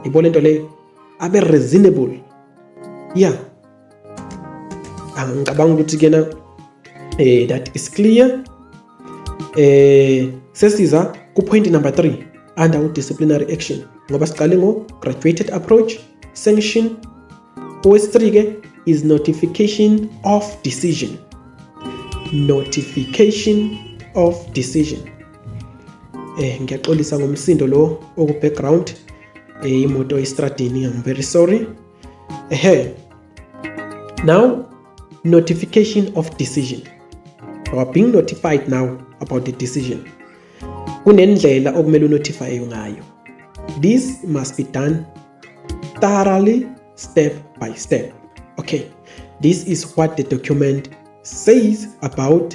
yibona into leyo abe reasonable ya angicabanga ukuthi kena eh that is clear eh sesiza ku point number 3 under disciplinary action ngoba siqale ngo graduated approach sanction owesithree ke is notification of decision notification of decision eh ngiyaxolisa ngomsindo lo oku background eh imoto estradini I'm very sorry ehe now notification of decision you are being notified now about the decision kunendlela okumele unotify ngayo this must be done thoroughly step by step okay this is what the document says about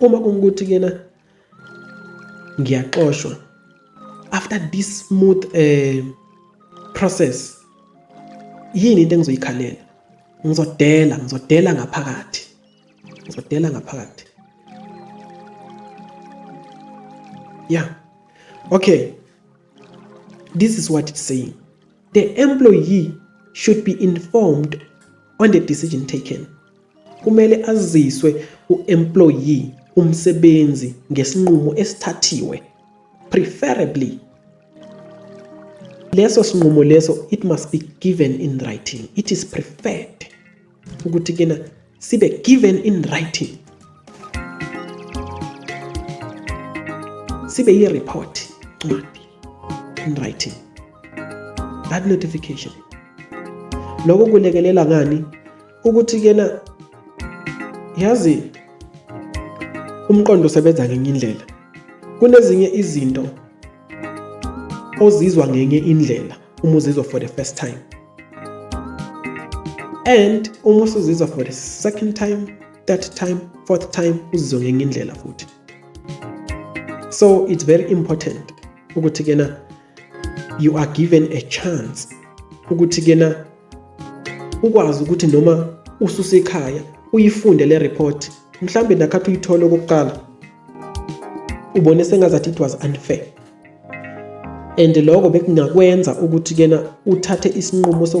uma ungukuthi kena ngiyaxoshwa after this smooth eh process yini into engizoyikhalela ngizodela ngizodela ngaphakathi ngizodela ngaphakathi yeah okay this is what it's saying the employee should be informed on the decision taken Kumele aziswe u-employee umsebenzi ngesinqumo esithathiwe preferably leso sinqumo leso it must be given in writing it is preferred ukuthi kena sibe given in writing sibe yi-report ncwadi in writing that notification loko kulekelela ngani ukuthi kena yazi umqondo usebenza ngenye indlela kunezinye izinto ozizwa ngenye indlela uma uzizwa for the first time and uma usuzizwa for the second time third time fourth time uzizwa ngenye indlela futhi so it's very important ukuthi kena you are given a chance ukuthi kena ukwazi ukuthi noma ususekhaya uyifunde le report mhlawumbe nakhathi uyithole okokuqala ubone sengazathi it was unfair and lokho bekungakwenza ukuthi kena uthathe isinqumo soku